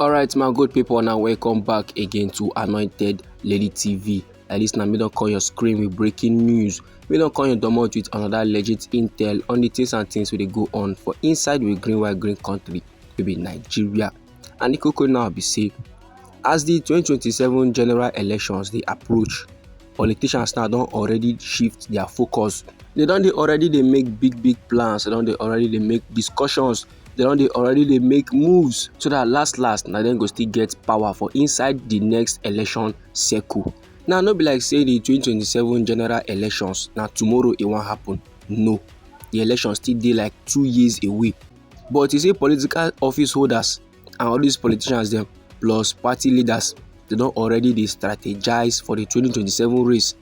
alright my good people now welcome back again to anointed lady tv like this now me don't call your screen with breaking news me don't call your domot with another legit intel on the things and things we go on for inside with green white green country to be nigeria and the cocoa now be safe as the 2027 general elections they approach politicians now don already shift their focus they don dey already dey make big big plans they don dey already dey make discussions they don dey already dey make moves so that last last na dem go still get power for inside the next election circle now no be like say the 2027 general elections na tomorrow e wan happen no the election still dey like two years away but you see political office holders and all these politicians dem plus party leaders they don already dey strategize for the 2027 race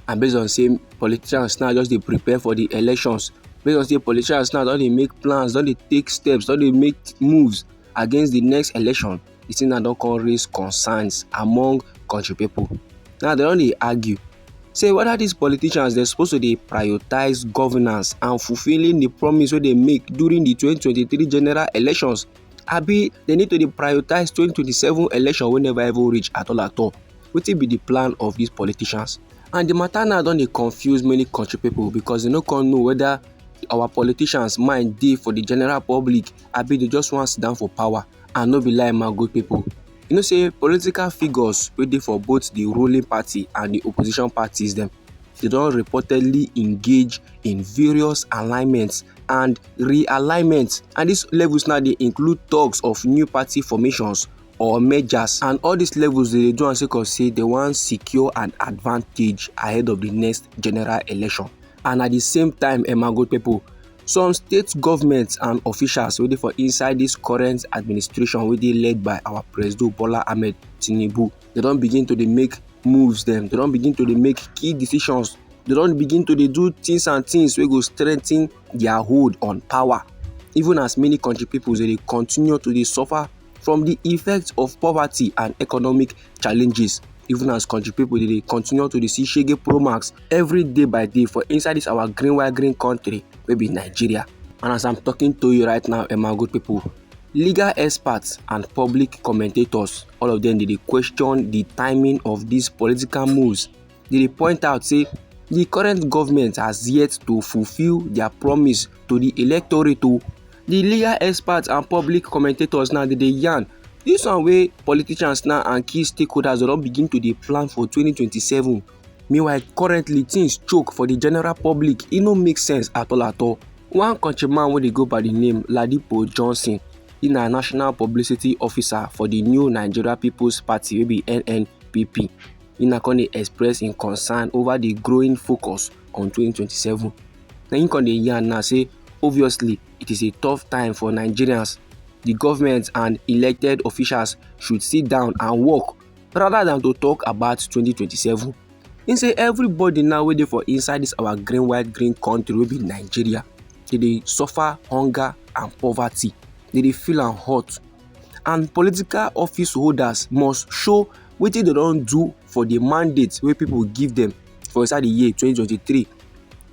and based on say politicians now just dey prepare for the elections based on say politicians now don dey make plans don dey take steps don dey make moves against the next election the thing now don come raise concerns among country people now they don dey argue say whether these politicians dem suppose to dey prioritize governance and fulfilling the promise wey dem make during the 2023 general elections abi dem need to dey prioritize 2027 election wey never even reach at all at all wetin be the plan of these politicians and the matter now don dey confuse many country people because dem no come know whether our politicians mind dey for the general public abi they just wan sit down for power and no be lie my good people you know say political figures wey dey for both di ruling party and di opposition parties dem dey don reportedly engage in various alignments and realignments and dis levels now dey include talks of new party formations or mergers and all dis levels dey do am sake of say dem wan secure an advantage ahead of di next general election and at di same time emma gold pipo Some state governments and officials wey dey for inside this current administration wey dey led by our President Bola Ahmed Tinubu, they don begin to dey make moves them. they don begin to dey make key decisions, they don begin to dey do things and things wey go strengthen their hold on power. Even as many country people dey continue to dey suffer from di effects of poverty and economic challenges even as country people they dey continue to dey see shege pro max every day by day for inside this our green white green country wey be nigeria and as i'm talking to you right now emma good people legal experts and public commentators all of them dey dey question the timing of these political moves dey dey point out say di current goment has yet to fulfil dia promise to di electorate o di legal experts and public commentators now dey dey yarn dis one wey politicians now and key stakeholders don begin to dey plan for 2027 meanwhile currently things choke for di general public e no make sense at all at all one countryman wey dey go by di name ladipo johnson e na national publicity officer for di new nigeria people's party wey be nnpp Nina come dey express im concern over di growing focus on 2027. Na im come dey yarn now say obviously it is a tough time for Nigerians. The government and elected officials should sit down and work rather than to talk about 2027. He say everybody now wey dey for inside this our green white green country wey be Nigeria dey dey suffer hunger and poverty. They dey feel am hot and political office holders must show wetin dem don do for the mandate wey people give them for inside the year 2023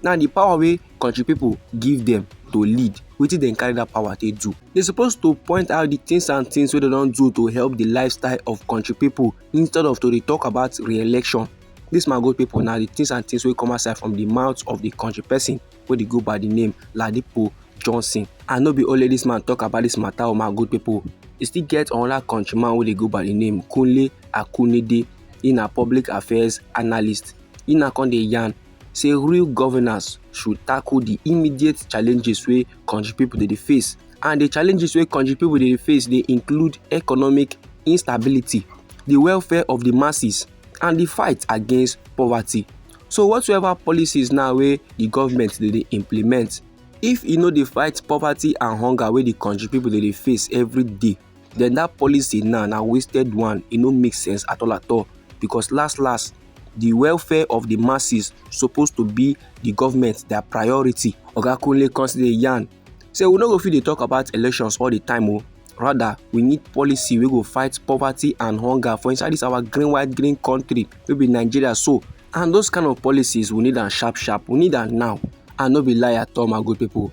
now the power wey country people give them to lead wetin dem carry that power take do they suppose to point out the things and things wey dem don do to help the lifestyle of country people instead of to dey talk about re-election this my good people na the things and things wey come outside from the mouth of the country person wey dey go by the name Ladipo Johnson and no be only this man talk about this matter o oh my good people e still get another countryman wey dey go by the name Kunle Akunide he na public affairs analyst he na come dey yarn say real governance should tackle the immediate challenges wey country people dey dey face and the challenges wey country people dey dey face dey include economic instability the welfare of the masses and the fight against poverty so whatsoever policies now wey the government dey dey implement if e no dey fight poverty and hunger wey the country people dey dey face every day then that policy now na wasted one e no make sense at all at all because last last the welfare of the masses suppose to be the government their priority oga kunle come still dey yarn say we no go fit dey talk about elections all the time o oh. rather we need policy wey go fight poverty and hunger for inside this our green white green country wey be nigeria so and those kind of policies we need am sharp sharp we need am now and no be lie at all my good people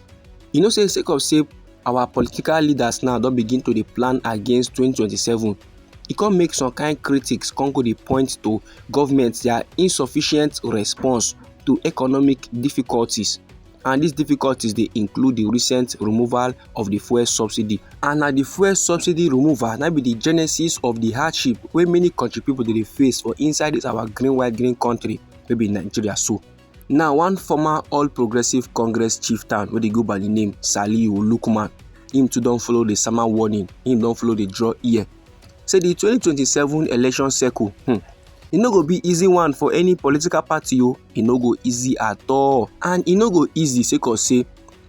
you know say sake of say our political leaders now don begin to dey plan against 2027 e come make some kind critics come go dey point to government their insufficient response to economic difficulties and these difficulties dey include the recent removal of the fuel subsidy and na the fuel subsidy removal na be the genesis of the hardship wey many country people dey face for inside this our green white green country wey be nigeria so now one former all progressives congress chieftain wey dey go by the name saliu lukman him too don follow the sama warning him don follow the draw ear say di 2027 election circle hmm, e no go be easy one for any political party o e no go easy at all and e no go easy sake of say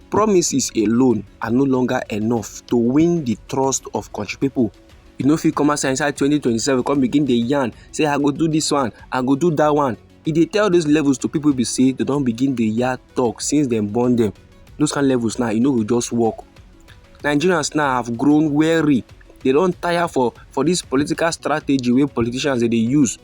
promises alone are no longer enough to win the trust of country people you no fit come outside inside 2027 come begin dey yarn say i go do this one i go do that one e dey tell those levels to people be say they don begin dey yarn talk since dem born them. those kind levels now e no go just work nigerians now have grown weary they don tire for for this political strategy wey politicians dey dey use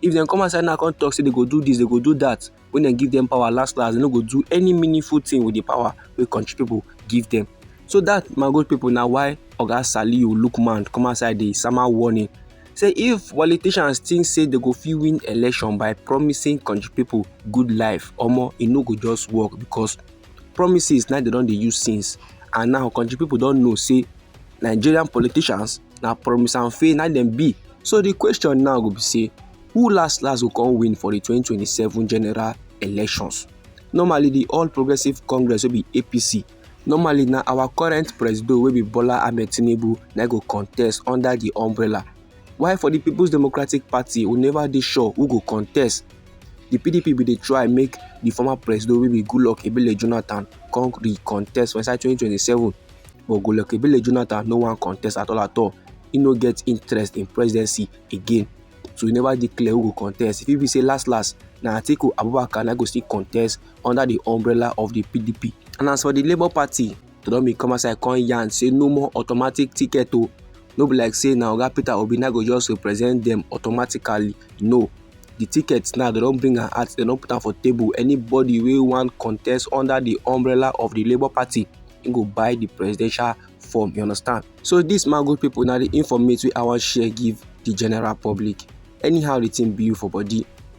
if dem come outside now come talk say they go do this they go do that when dem give them power last last they no go do any meaningful thing with the power wey country people give them so that my good people na why oga saliu lookman come outside dey sama warning say if politicians think say they go fit win election by promising country people good life omo e no go just work because promises na they don dey use since and now country people don know say nigerian politicians na promise and fail na dem be so the question now go be say who last last go come win for the 2027 general elections normally the all progressives congress wey be apc normally na our current presido wey be bola ahmed tinubu na go contest under di umbrella while for di peoples democratic party we never dey sure who go contest di pdp bin dey try make di former presido wey be goodluck ebele jonathan come di contest for inside 2027 but goodluck ebele jonathan no wan contest at all at all he no get interest in presidency again so e never dey clear who go contest e fit be say last last na atiku abubakar na go still contest under the umbrella of the pdp and as for the labour party they don bin come outside come yarn say no more automatic ticket o no be like say na oga peter obi na go just represent them automatically no the ticket now they don bring am out they don put am for table anybody wey wan contest under the umbrella of the labour party he go buy the presidential form you understand so this man good people na the informate wey i wan share give the general public anyhow the thing be you for body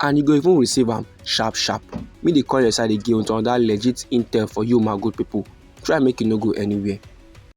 and you go even receive am sharp sharp me dey call your side again with another legit intel for you my good people try make you no go anywhere